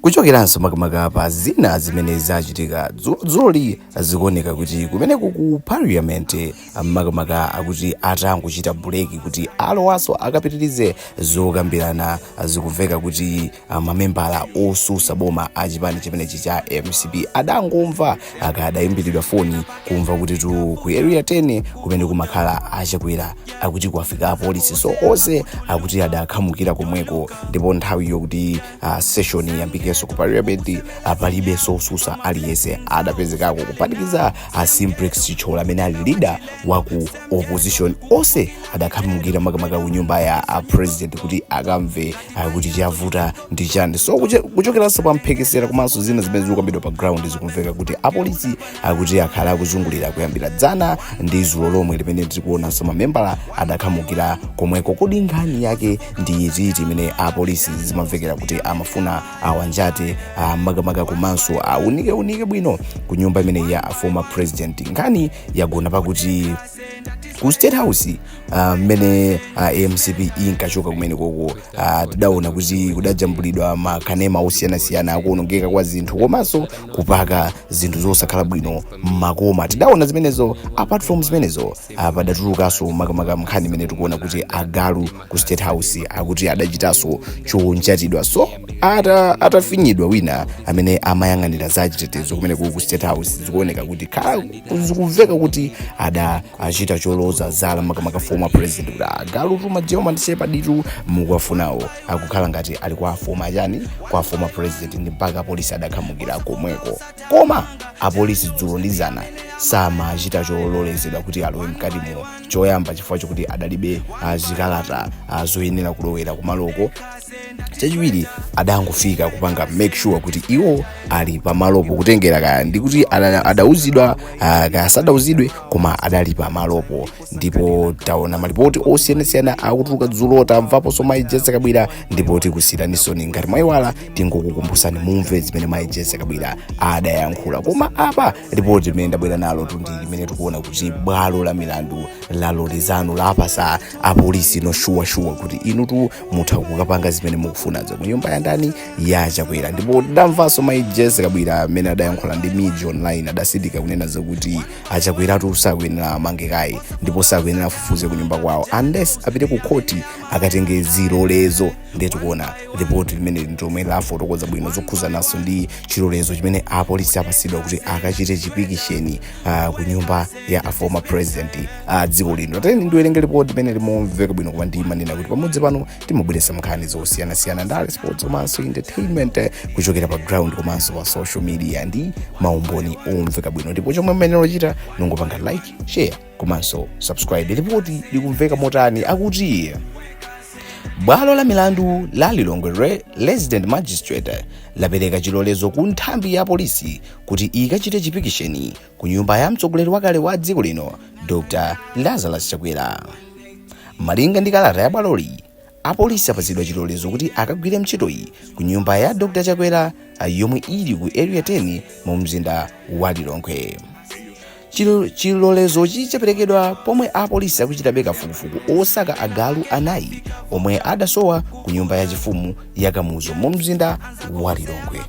kuchokeranso makamaka pa zina zimene zachitika dzulodzuloli zikuoneka kuti kumeneko ku parliament makamaka akuti atangochita buleki kuti alowaso akapitirize zokambirana zikumveka kuti ah, mamembala otsutsa boma a chipani chimenechi cha mcp adangomva akadayimbiridwa foni kumva kutitu ku area 10 kumene kumakhala a Chakwera akuti kwafika apolisi so onse akuti adakhamukira komweko ndipo nthawi yokuti uh, session iyambikenso ku parliament uh, palibenso otsutsa aliyense adapezekako kuphatikiza uh, simplex Chithyola amene ali leader wa ku opposition onse adakhamukira makamaka ku nyumba ya uh, president kuti akamve uh, kuti chavuta ndi chani so kuche- kuchokeranso pa mphekesera komanso zina zimene zikukambidwa pa ground zikumveka kuti apolisi akuti akhala akuzungulira kuyambira dzana ndi dzulo lomwe limene tikuonanso mamembala adakhamukira komweko kodi nkhani yake ndi iti imene apolisi zimamvekera kuti amafuna awanjate ah, makamaka komanso aunikeunike bwino ku nyumba imeneyi ya former president nkhani yagona pakuti ku state house ah, mmene ah, mcp inkachoka kumenekoko ah, tidaona kuti kudajambulidwa makanema osiyanasiyana akuonongeka kwa zinthu komanso kupaka zinthu zosakhala bwino mmakoma tidaona zimenezo apart from zimenezo ah, padatulukanso makamaka nkhani imene tikuona kuti agalu ku state house akuti adachitanso chonjatidwa so ata atafinyidwa wina amene amayang'anira za chitetezo kumeneku ku state house zikuoneka kuti zakhala zikumveka kuti ada achita choloza zala makamaka former president kuti agalutu ma German shepherd-tu mukuwafunawo akukhala ngati ali kwa a former chani kwa a former president ndi mpaka apolisi adakhamukira komweko koma apolisi dzulo ndi dzana samachita chololezedwa kuti alowe mkati muno choyamba chifukwa chokuti adalibe ah, zikalata ah, zoyenera kulowera kumaloko chachiwiri adangofika kupanga make sure kuti iwo ali pamalopo kutengera kaya ndikuti ada- adauzidwa ah, kaya sadauzidwe koma adali pamalopo ndipo taona malipoti osiyanasiyana akutuluka dzulo tamvaponso mayi Jessie Kabwila ndipo tikusiyiraninsoni ngati mwayiwala tingokukumbutsani mumve zimene mayi Jessie Kabwila adayankhula koma apa lipoti limene ndabwera nalotu ndi limene tikuona kuti bwalo la milandu laloleza tsano lapatsa apolisi ino shuwashuwa kuti inutu mutha kukapanga zimene mukufunazo mu nyumba ya ndani ya chakwera ndipo tidamvanso mayi Jessie Kabwila amene adayankhula ndi MIJ online adatsindika kunena zakuti a Chakweratu sakuyenera amangidwe kaye ndipo sakuyenera afufuze kunyumba kwawo unless apite ku khoti akatenge zilolezo ndiye tikuona ripoti limeneli lomwe lafotokoza bwino zokhudzananso ndi chilolezo chimene apolisi apatsidwa kuti akachite chipikisheni uh, ku nyumba ya a former president a uh, dziko lino tateni ndiwerenge ripoti limeneli momveka bwino koma ndimanena kuti pamodzi pano timabweretsa nkhani zosiyanasiyana ndale sports komanso entertainment eh, kuchokera pa ground komanso pa social media ndi maumboni omveka bwino ndipo chomwe mwayenera kuchita n'kungopanga like share komanso subscribe lipoti likumveka motani akuti bwalo la milandu la lilongwe re- resident magistrate lapereka chilolezo ku nthambi ya polisi kuti ikachite chipikisheni ku nyumba ya mtsogoleri wakale wa dziko lino dr lazarus chakwera malinga ndi kalata ya bwaloli apolisi apatsidwa chilolezo kuti akagwire ntchitoyi ku nyumba ya dr chakwera ah, yomwe ili ku area 10 mu mzinda wa lilongwe Chilo- chilolezochi chaperekedwa pomwe apolisi akuchitabe kafukufuku osaka agalu anayi omwe adasowa ku nyumba ya chifumu ya kamuzu mu mzinda wa lilongwe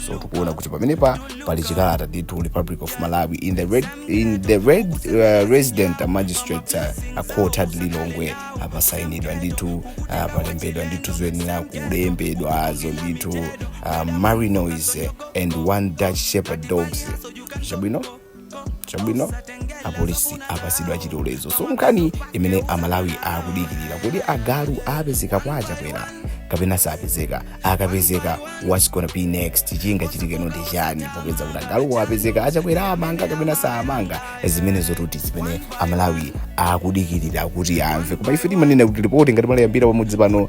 so tikuona kuti pamenepa pali chikalata ndithu republic of malawi in the red, in the red uh, resident magistrate uh, court at lilongwe pasainidwa ndithu uh, palembedwa ndithu zoyenera kulembedwazo ndithu uh, malinois and one dutch shepherd dogs chabwino chabwino apolisi apasidwa chilolezo so nkhani imene amalawi akudikirira kodi agalu apezeka kwa achakwera kapena sapezeka akapezeka what's gonna be next chingachitikeno ndi chani pakupeza kuti agalu apezeka achakwera amanga kapena sawamanga zimenezotu ndi zimene amalawi akudikirira kuti amve koma ife timanena kuti lipoti ngati mwaliyambira pamudzi pano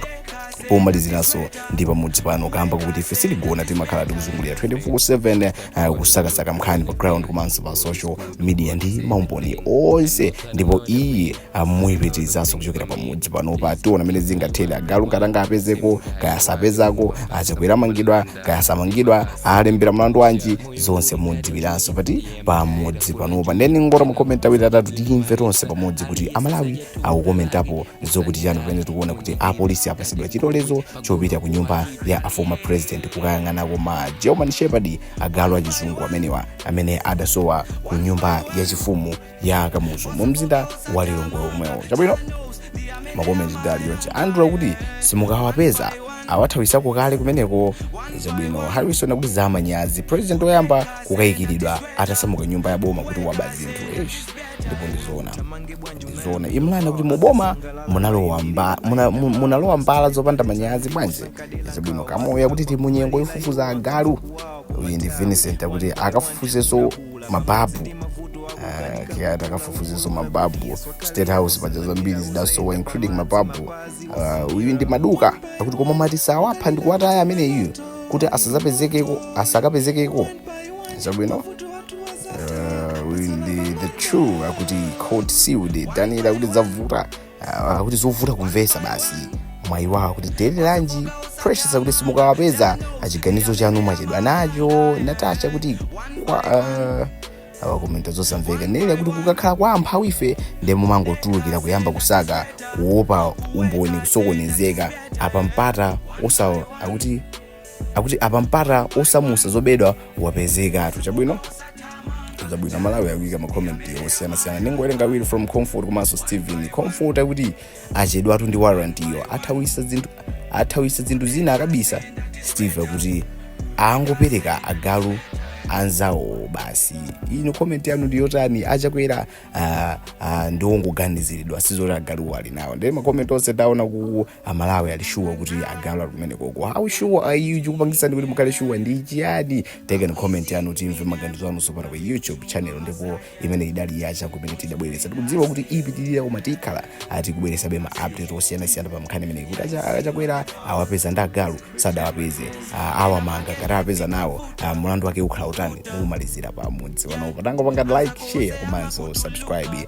pomaliziraponso ndi pamudzi pano kamba kuti ife sitigona timakhala tikuzungulira 24/7 eh, kusakasaka mkhani pa ground komanso pa social media ndi maumboni onse ndipo iyi muyipitirizanso kuchokera pamudzi panopa tiona mmene zingathere agalu ngati angapezeko kaya asapezekeko achakwera amangidwa kaya samangidwa awalembera mlandu wanji zonse mudziwiranso pati pamudzi panopa ndiye tingolowa mu ma comment awiri atatu tiyimve tonse pamodzi kuti amalawi akukomentapo zokuti chani pamene tikuona kuti apolisi apasidwa chilolezo chopita ku nyumba ya aformer president kukayang'anako ma german shepherd agalu achizungu amenewa amene adasowa ku nyumba yachifumu ya kamuzu mu mzinda wa lilongwe omwewo chabwino makomenti dali yonse andrew akuti simukawapeza awathawisako kale kumeneko chabwino harrison akuti zamanyazi president oyamba kukayikiridwa atasamuka nyumba ya boma kuti waba zinthu Eish, ndipo ndizoona ndizoona imran akuti muboma munalowa mba- muna- mu- munalowa mbala zopanda manyazi bwanji chabwino kamoya akuti tili munyengo yofufuza agalu uyu ndi vincent akuti akafufuzeso mababu uh, akuti akafufuzeso mababu state house paja zambiri zidasowa including mababu uh, uyu ndi maduka akuti koma ngati sawapha ndi kuwataya ameneyu kuti asazapezekeko asakapezekeko chabwino uh, uyu ndi the true akuti court sealed daniel akuti zavuta Ah, akuti zovuta kumvesa basi mwayi wawo akuti dele ranji precious akuti simukawapeza achiganizo chanu mwachedwa nacho natasha kuti kwa ah, awakomenta zosamveka nele akuti kukakhala kwa amphawi ife ndiye mumangotulukira kuyamba kusaka kuopa umboni kusokonezeka apa mpata osa akuti akuti apa mpata osamusa zobedwa wapezekatu chabwino zabwino amalawi akuyika makomenti osiyanasiyana ndingowerenga awiri from comfort komanso steven comfort akuti achedwatu ndi warrant yo athawisa zinthu athawisa zinthu zina akabisa steve akuti angopereka agalu anzawo basi ino komenti yanu ndiyotani achakwera ah, ah, ndi ongoganiziridwa sizoti agaluwo ali nawo nde makomenti onse ndaona ku amalawi ali sure kuti agalu ali kumenekoko how sure are you chikupangitsani kuti mukhale sure ndi chiyani ikani comment yanu timve maganizo anu tsopano pa youtube channel ndipo imeneyi idali ya chakumene tidabweretsa tikudziwa kuti ipitirira koma tikhala tikubweretsabe ma update osiyanasiyana pa nkhani imeneyi kuti acha- achakwera awapeza ndi agalu sadawapeze ah, awamanga ngati awapeza nawo ah, mulandu wake ukhala utani pomalizira pa mudzi panopo tangopangani like share komanso subscribe